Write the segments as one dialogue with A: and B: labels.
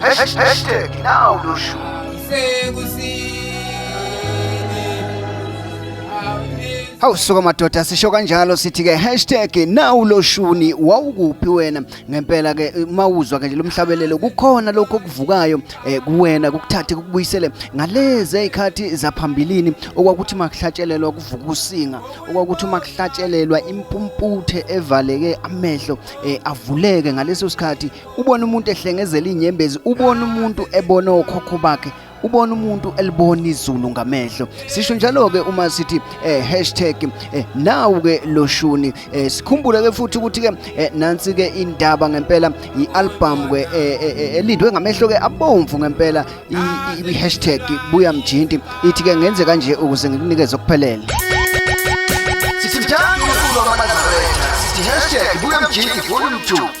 A: Hashtag now no shoe. Hawu suka madoda sisho kanjalo sithi ke hashtag nawu loshuni wawukuphi wena ngempela ke mawuzwa ke nje lomhlabelelo kukhona lokho okuvukayo eh, kuwena kukuthathe kukubuyisele ngalezi ezikhathi zaphambilini okwakuthi makuhlatshelelwa kuvuka usinga okwakuthi makuhlatshelelwa impumputhe evaleke amehlo eh, avuleke ngaleso sikhathi ubona umuntu ehlengezela inyembezi ubona umuntu ebona okhokho bakhe ubona umuntu elibona izulu ngamehlo sisho njalo ke uma sithi eh, hashtag eh, nawu ke loshuni eh, sikhumbule ke futhi ukuthi ke eh, nansi ke indaba ngempela ialbum ke eh, eh, eh, elindwe ngamehlo ke abomvu ngempela i hashtag buya mjinti ithi ke ngenze kanje ukuze ngikunikeze okuphelele Sithi njalo ukulwa amanazareth sithi hashtag buya mjinti volume 2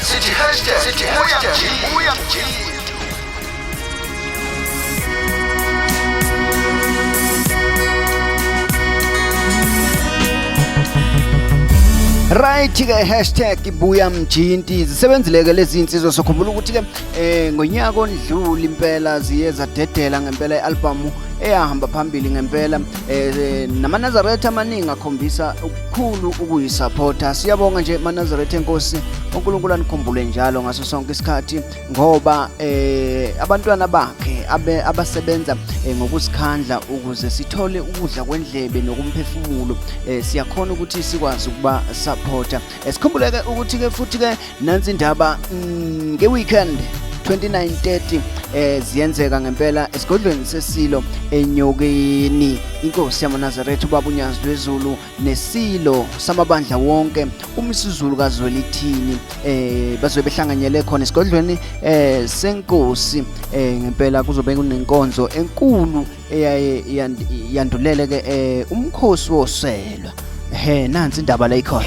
A: Sithi hashtag sithi hashtag uya mjini. Right ke hashtag ibuya mjinti zisebenzile ke lezi insizwa sokhumbula ukuthi ke eh ngonyaka ondluli impela ziye zadedela ngempela ialbum eyahamba phambili ngempela eh namaNazaretha amaningi akhombisa khulu ukuyisapota siyabonga nje manazaretha enkosi unkulunkulu anikhumbule njalo ngaso sonke isikhathi ngoba eh abantwana bakhe abe abasebenza eh, ngokusikhandla ukuze sithole ukudla kwendlebe nokumphefumulo eh, siyakhona ukuthi sikwazi ukuba supporta esikhumbuleke eh, ukuthi ke futhi ke nansi indaba mm, nge-weekend 2930 eh ziyenzeka ngempela esigodlweni sesilo enyokeni inkosi yamanazaretha ubaba unyazi lwezulu nesilo samabandla wonke umisizulu kazwelithini eh bazobe behlanganyele khona esigodlweni eh senkosi eh ngempela kuzobe kunenkonzo enkulu eyaye yandulele ke eh, umkhosi woselwa he nansi indaba la ikhona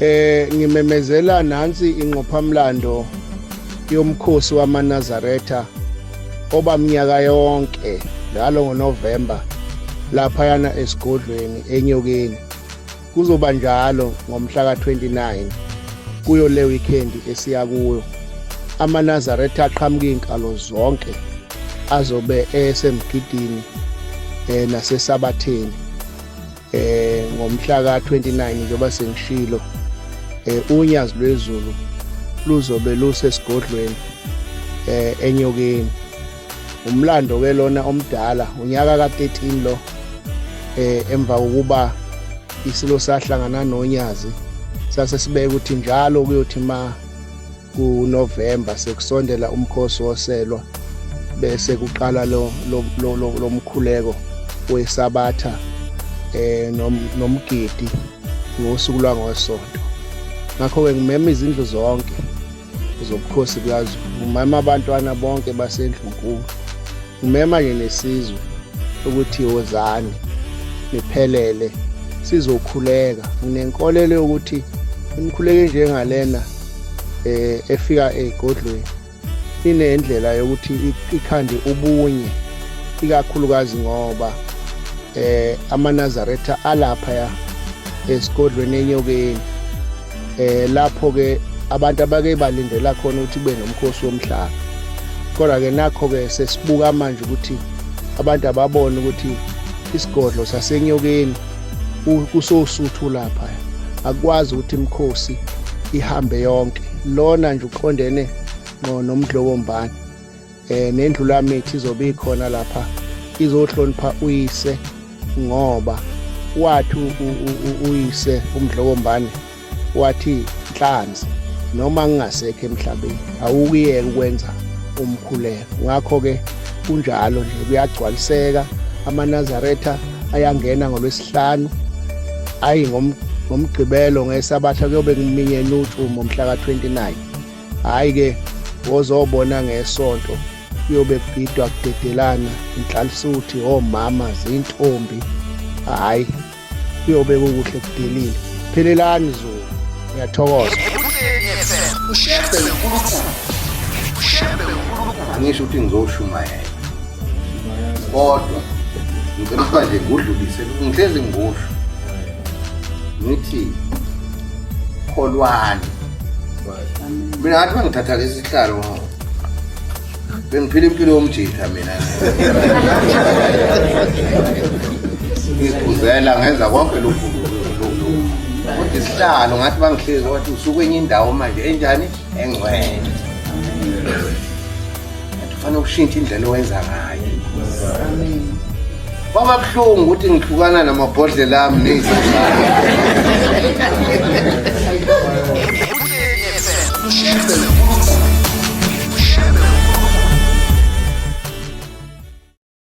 B: Eh ngimemezela nansi ingqophamlando yomkhosi wamaNazaretha oba mnyaka yonke njalo ngoNovember laphayana esigodlweni enyokeni kuzoba njalo ngomhla ka-29 kuyo le weekend esiya kuyo amanazaretha aqhamuka iy'nkalo zonke azobe esemgidini um nasesabatheni eh ngomhla ka-29 njengoba sengishilo eh unyazi lwezulu luzobe lusesigodlweni eh enyokeni umlando ke lona omdala unyaka ka-13 lo eh emva kokuba isilo sahlangana nonyazi sase sibeke ukuthi njalo kuyothi ma kuNovember sekusondela umkhosi woselwa bese kuqala lo lomkhuleko wesabatha eh nomgidi ngosuku lwangoSonto ngakho ke ngimema izindlu zonke zobukhosi bukaZulu ngimema abantwana bonke basendlunkulu Umema ke nesizwe ukuthi wozani niphelele sizokhuleka. Nginenkolelo yokuthi imikhuleko enjengalena eh efika egodlweni inendlela yokuthi ikhande ubunye ikakhulukazi ngoba eh amanazaretha alapha ya esigodlweni enyokeni eh lapho ke abantu abake balindela khona ukuthi kube nomkhosi womhlanga kodwa ke nakho ke sesibuka manje ukuthi abantu ababone ukuthi isigodlo sasenyokeni kusosuthu lapha akwazi ukuthi imkhosi ihambe yonke lona nje uqondene no nomdlobombane eh nendlulamithi izobe ikhona lapha izohlonipha uyise ngoba wathi uyise umdlokombane wathi nhlanzi noma ngingasekho emhlabeni awukuyeke ukwenza umkhuleko ngakho-ke kunjalo nje kuyagcwaliseka amanazaretha ayangena ngolwesihlanu ayi ngomgqibelo ngesabatha kuyobe kuminyene utshumo mhla ka-29 hhayi ke wozobona ngesonto kuyobe kugidwa kudedelana inhlalisuthi omama zintombi hhayi kuyobe kukuhle kudelile phelelani zulu ngiyathokoza ushembe unkulunkulu ushembe unkulunkulu
C: angisho ukuthi ngizoshumayela kodwa ngicela ukuba nje ngudlulise ngihlezi ngusho ngithi kholwani mina ngathi bangithatha lesi sihlalo bengiphila impilo yomjitha mina ngiphuzela ngenza konke lokhu kodwa isihlalo ngathi bangihlezi wathi usukwenye indawo manje enjani engcwele Kufanele ushintshe indlela owenza ngayo. Amen. Kwaba buhlungu ukuthi ngihlukana namabhodlela ami nezizalo.